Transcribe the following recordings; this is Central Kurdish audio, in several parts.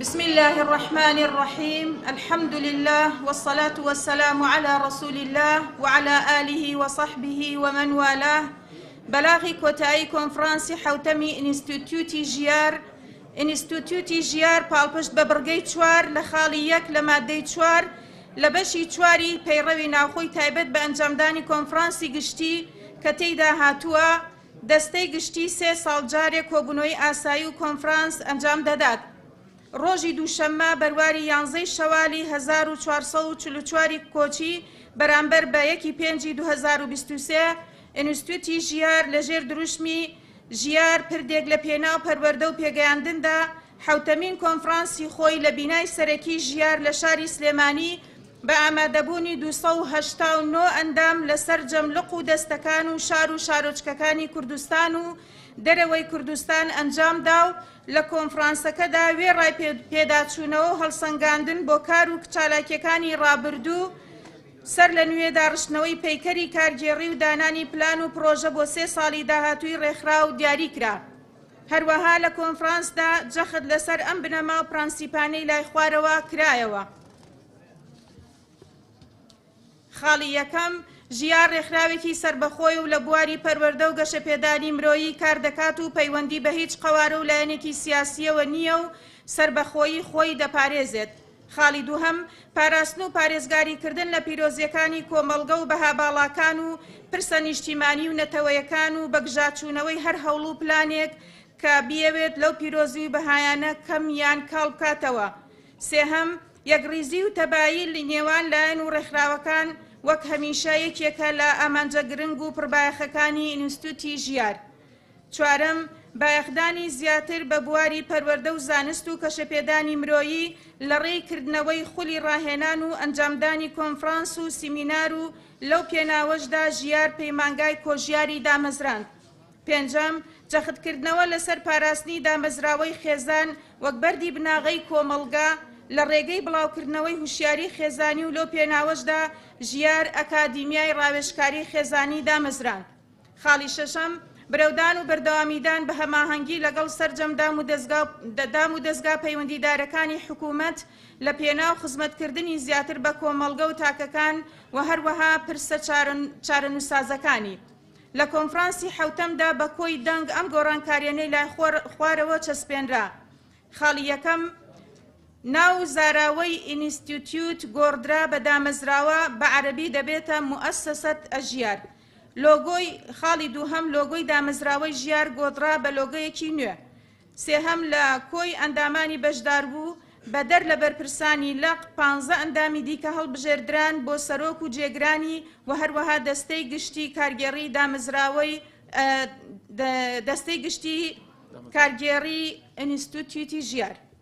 بسم اللە الرحمن الرحیم الحمد للە والصلاة والسلام علی رسول اللە وعلى آله وصحبه ومن والاه بەلاغی کۆتایی کۆنفرانسی حوتەمی ئینستیتوتی ژیار ئینستیتوتی ژیار پاڵپشت بە بڕگەی چوار لە خاڵی یەک لە مادەی چوار لە بەشی چواری پەیڕەوی ناوخۆی تایبەت بە ئەنجامدانی کۆنفرانسی گشتی کە تێیدا هاتووە دەستەی گشتی سێ ساڵ جارێک کۆبونەوەی ئاسایی و کۆنفرانس ئەنجام دەدات. ڕۆژی دووشەممە بەرواری یانزەی شەوالی هەزار و چوار سەد و چل و چوار ی کۆچی بەرامبەر بە یەک ی پێنجی دوو هەزار و بیست و سێ ئینستتیوتی ژیار لە ژێر دروشمی ژیار پردێک لە پێناو پەروەردە و پێگەیاندندا حەوتەمین کۆنفرانسی خۆی لە بینای سەرەکی ژیار لە شاری سلێمانی بە ئامادەبوونی دوو سەد و هەشتا و نۆ ئەندام لە سەرجەم لق و دەستەکان و شار و شارۆچکەکانی کوردستان و دەرەوەی کوردستان ئەنجام دا و لە کۆنفرانسەکەدا وێڕای پێداچوونەوە و هەڵسەنگاندن بۆ کار و چالاکییەکانی ڕابردوو سەر لە نوێ داڕشتنەوەی پەیکەری کارگێڕی و دانانی پلان و پڕۆژە بۆ سێ ساڵی داهاتووی ڕێکخراو دیاری کرا. هەروەها لە کۆنفرانسدا جەخت لەسەر ئەم بنەما و پرەنسیپانەی لای خوارەوە کرایەوە. خاڵی یەکەم، ژیار ڕێکخراوێکی سەربەخۆیە و لە بواری پەروەردە و گەشەپێدانی مرۆیی کار دەکات و پەیوەندی بە هیچ قەوارە و لایەنێکی سیاسییەوە نییە و سەربەخۆیی خۆی دەپارێزێت. خاڵی دووهەم، پاراستن و پارێزگاریکردن لە پیرۆزییەکانی کۆمەڵگە و بەها باڵاکان و پرسە نیشتیمانی و نەتەوەیەکان و بەگژاچوونەوەی هەر هەوڵ و پلانێک کە بیەوێت لەو پیرۆزی و بەهایانە کەم یان کاڵ بکاتەوە سێهەم، یەکڕیزی و تەبایی لە نێوان لایەن و ڕێکخراوەکان وەک هەمیشە یەکێکە لە ئامانجە گرنگ و پڕبایەخەکانی ئینستووتی ژیار. چوارەم، بایەخدانی زیاتر بە بواری پەروەردە و زانست و کەشەپێدانی مرۆیی لە ڕێی کردنەوەی خولی ڕاهێنان و ئەنجامدانی کۆنفڕانس و سیمینار و لەو پێناوەشدا ژیار پەیمانگای کۆژیاری دامەزراند. پێنجەم، جەختکردنەوە لەسەر پاراستنی دامەزراوەی خێزان وەک بەردی بناغەی کۆمەڵگە لە ڕێگەی بڵاوکردنەوەی هوشیاری خێزانی و لەو پێناوەشدا ژیار ئەکادیمیای ڕاوێژکاری خێزانی دامەزراند. خاڵی شەشەم، برەودان و بەردەوامیدان بە هەماهەنگی لەگەڵ سەرجەم دام و دەزگا پەیوەندیدارەکانی حکوومەت لە پێناو خزمەتکردنی زیاتر بە کۆمەڵگە و تاکەکان و هەروەها پرسە چارەنووسسازەکانی. لە کۆنفرانسی حەوتەمدا بە کۆی دەنگ ئەم گۆڕانکارییەنەی لای خوارەوە چەسپێنرا، خاڵی یەکەم، ناو و زاراوەی ئینیستیتیوت گۆڕدرا بە دامەزراوە، بە عەرەبی دەبێتە موئەسەسە ژیار. لۆگۆی، خاڵی دووهەم، لۆگۆی دامەزراوەی ژیار گۆڕدرا بە لۆگۆیەکی نوێ. سێهەم لە کۆی ئەندامانی بەشداربوو، بەدەر لە بەرپرسانی لق، پانزە ئەندامی دیکە هەڵبژێردران بۆ سەرۆک و جێگرانی و هەروەها دەستەی گشتی کارگێڕی دامەزراوەی دەستەی گشتی کارگێڕی ئینستتیوتی ژیار.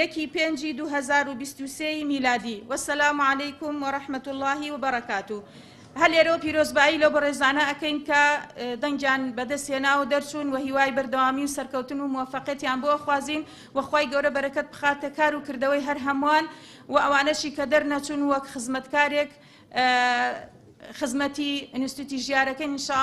یەکی پێنجی دوو هەزار و بیست و سێ ی میلادی وسلام علیکم ورحمة اللە وبرکاته هەر لێرەوە پیرۆزبایی لەو بەڕێزانە ئەکەین کە دەنگیان بەدەست هێنا و دەرچوون و هیوای بەردەوامی و سەرکەوتن و موفقێتیان بۆ ئەخوازین و خوای گەورە بەرەکەت بخاتە کار و کردەوەی هەر هەمووان و ئەوانەشی کە دەرنەچوون وەک خزمەتکارێک خزمەتی ئینستیتوتی ژیارەکەن ان شاء اللە